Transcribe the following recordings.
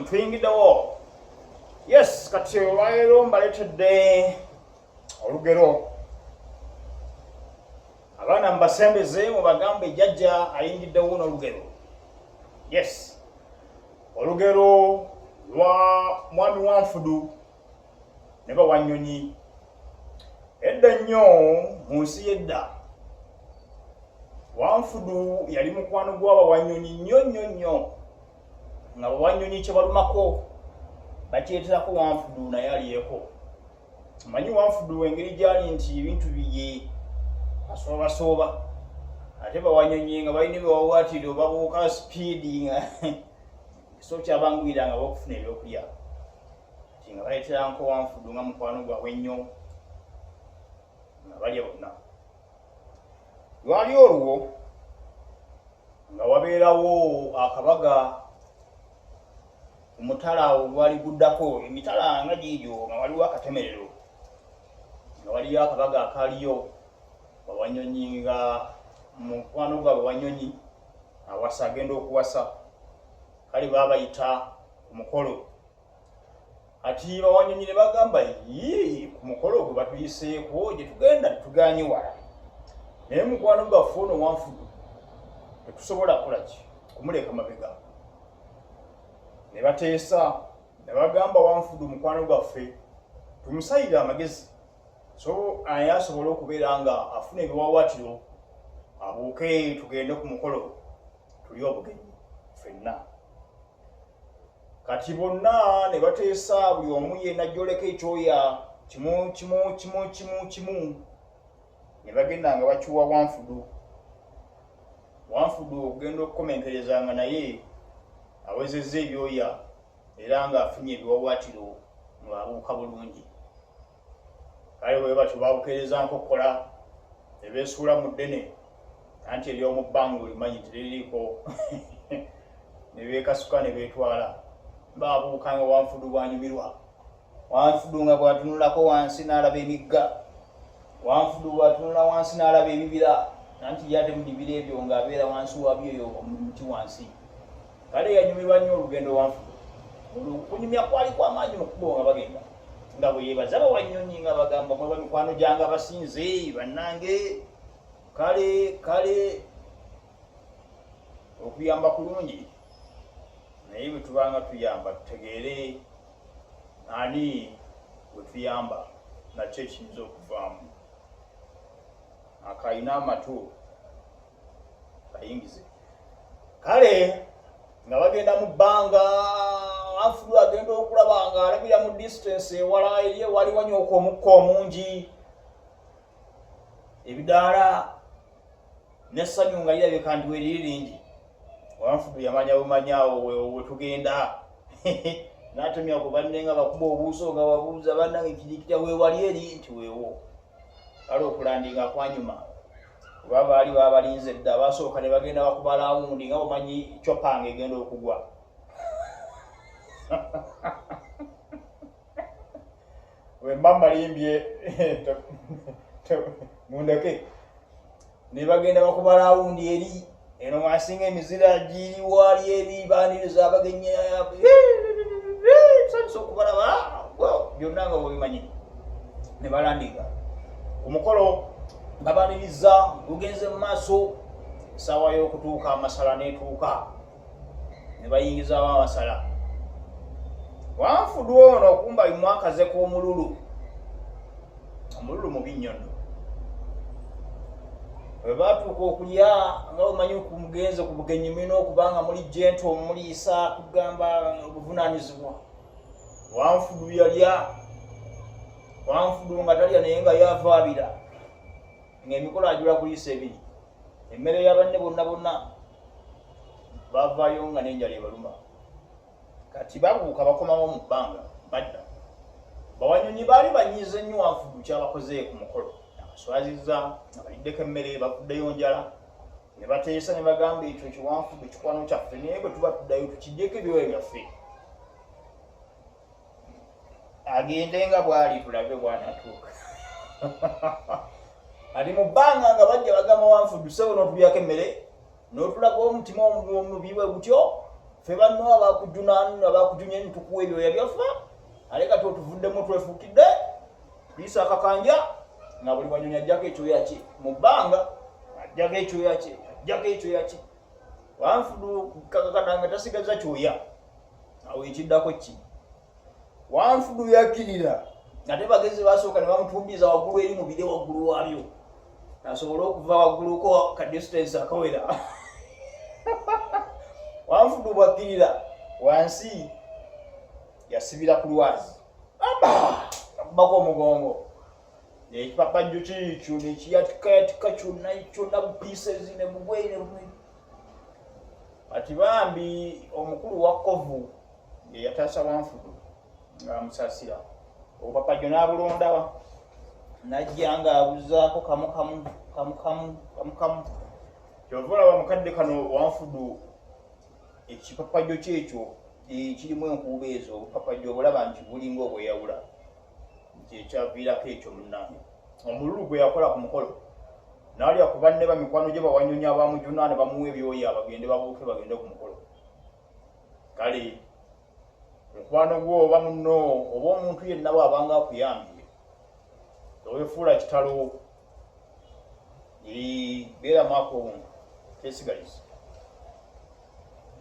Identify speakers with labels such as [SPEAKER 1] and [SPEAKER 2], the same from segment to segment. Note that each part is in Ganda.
[SPEAKER 1] tuyingiddewo yes kati olwaleero mbaletedde olugero abaana mubasembeze mubagambe jajja ayingiddewo n'olugero yes olugero lwa mwami wanfudu ne bawanyonyi edda nnyo mu nsi y'edda wanfudu yali mukwano gw'abawanyonyi nnyo nnyo nnyo nga bawanyonyi kyebalumako bakyeterako wanfudu naye alyeko manyi wanfudu engeri gyali nti ebintu biye asoobasooba ate bawanyonyi nga balina ebiwawaatiro obabuuka sipiidi nga so kyabanguyira nga bakufuna ebyokulya nga baletera nkowanfudu nga mukwano gwabwe nnyo nga balya bonna lwali olwo nga wabeerawo akabaga omutala awo gwali guddako emitala nga giigyo nga waliwo akatemerero nga waliyo akabaga akaliyo bawanyonyi nga mukwano gwa bawanyonyi awasa agenda okuwasa kale babayita omukolo kati bawanyonyi ne bagamba yii ku mukolo ogwe batuyiseeko gye tugenda tuganye wala naye mukwano gaffe ono wanfudu tetusobola kola ki kumuleeka mabega ne bateesa ne bagamba wanfudu mukwano gwaffe tumusayire amagezi so aye asobole okubeera nga afuna ebiwawatiro abuuke tugende ku mukolo tuli obugenyi fenna kati bonna ne bateesa buli omu yena joleka ekyoya kimu kimu kimu kimu kimu ne bagenda nga bakiwa wanfudu wanfudu okugenda okukomenkereza nga naye awezezza ebyoya era ng'afunye ebiwawatiro ng'abuuka bulungi kale bwe batyo babukeerezanko okukola ne beesuula mu ddene anti ery'omu bbanga olimanyi nti liririiko ne beekasuka ne beetwala baabuuka nga wanfudu bwanyumirwa wanfudu nga bwatunulako wansi n'alaba emigga wanfudu bwatunula wansi n'alaba ebibira nanti yate mu bibira ebyo ng'abeera wansi wabyo yo omuti wansi kale yanyumirwa nnyo olugendo wanfuko olukunyumya kwali kwamaanyi mukubo nga bagenda nga bwe yebaza bawanyonyi nga bagamba mweba mikwano gyanga basinze bannange kale kale okuyamba kulungi naye bwe tubanga tuyamba tutegeere ani bwe tuyamba nakyo ekiyinza okuvaamu akayina amatu bayingize kale nga bagenda mu bbanga afulu agenda okulaba nga alabira mu distance ewala ye wali wanyooka omukka omungi ebidaala nessanyu nga lirabika nti weriri lingi wanfudu yamanya bumanyaawo wetugenda natumya ku banne nga bakuba obuuso nga babuuza banange kirikita wewali eri nti wewo kale okulandinga kwanyuma kuba baali babalinze dda basooka ne bagenda bakuba lawundi nga omanyi copanga egenda okugwa wemba malimbye mundeke nebagenda bakuba lawundi eri eno mwasinga emizira giriwali ebibaniriza abagenyi sanisa okubalaba byonna nga bwebimanyi nebalandika omukolo babaniriza lugenze mu maaso saawa y'okutuuka amasala netuuka ne bayingizaawo abasala wanfudwa ono okumba bimwakaze k'omululu omululu mubi nnyo nno bwe baatuuka okulya nga omanyi kumugenze ku bugenyi mulina okuba nga muli jenti omuliisa kugamba obuvunaanyizibwa wanfudu yalya wanfudu nga talya naye nga yavaabira ng'emikolo ajula kuliisa ebiri emmere y'abanne bonna bonna bavayo nga nenjala ebaluma kati babuuka bakomawo mu bbanga badda bawanyonyi baali banyiiza ennyo wafugu kyabakoze ku mukolo abaswaziza abaliddeko emmere bavuddeyo njala ne bateesa ne bagamba ekyo kiwanfugu kikwano kyaffe naye bwe tuba tuddayo tukiddeko ebiwayo byaffe agende nga bwali tulabe bwanatuuka ali mu bbanga nga bajja bagamba wanfudusewo n'otulyako emmere n'otulaga omutima omubi bwe gutyo fe banno abakujunanu abakujunya nitukuwa ebyoya byaffe ale kati otuvuddemu twefukidde tuyisa akakanja nga buli wanyonyi ajjako ekyoya kye mu bbanga ajjako ekyoya kye ajjako ekyoya kye wanfudu kakakana nga tasigaza kyoya awo ekiddako ki wanfudu yakkirira ate bagezi basooka ne bamutumbiza waggulu eri mu bire waggulu waabyo asobole okuva wagguluko ka distance akawera wanfudu bwakkirira wansi yasibira ku lwazi abako omugongo ekipapajjo kikyo nekiyatikayatika kyonna kyonna bupiisezi ne mugweyine kati bambi omukulu wa kovu eyataasa wanfudu nga amusasira obupapajo n'abulondawa najja nga abuzaako kamukamu kamukamu kamukamu kyova olaba mukadde kano wanfudu ekipapajo kyekyo kirimu enkuuba ezo obupapajo obulaba nti bulinga obweyawula kyekyaviirako ekyo munange omululu gwe yakola ku mukolo naalya ku banne ba mikwano gye bawanyonyi abamujuna ne bamuwa ebyoya bagende babuuke bagende ku mukolo kale mukwano gwo oba munno oba omuntu yenna waabanga akuyambye towefuula kitalo beera mwaka obuntu kyesigaliza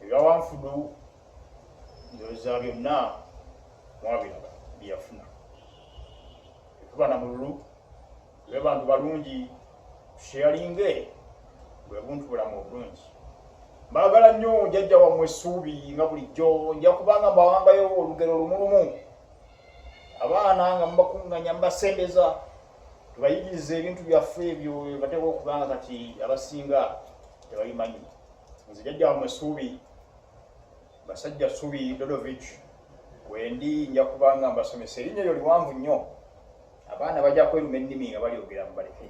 [SPEAKER 1] ebyawanfudu ndoza byonna mwabiraba byeyafuna ekuba na mululu lwe bantu balungi tusheyalinge bwe buntu bulamu obulungi mbagala nnyo jajja wammwe essuubi nga bulijjo nja kubanga mbawangayo olugero lumulumu abaana nga mubakunganya mubasembeza tubayigiriza ebintu byaffe ebyo bateeka okubanga kati abasinga tebabimanyi nze jajja wammwe essuubi Basajja Subi Dodovic wendi nja kubanga mbasomesa erinnya eryo liwanvu nnyo abaana bajja kweruma ennimi nga balyogera mu baleke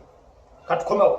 [SPEAKER 1] katukomewo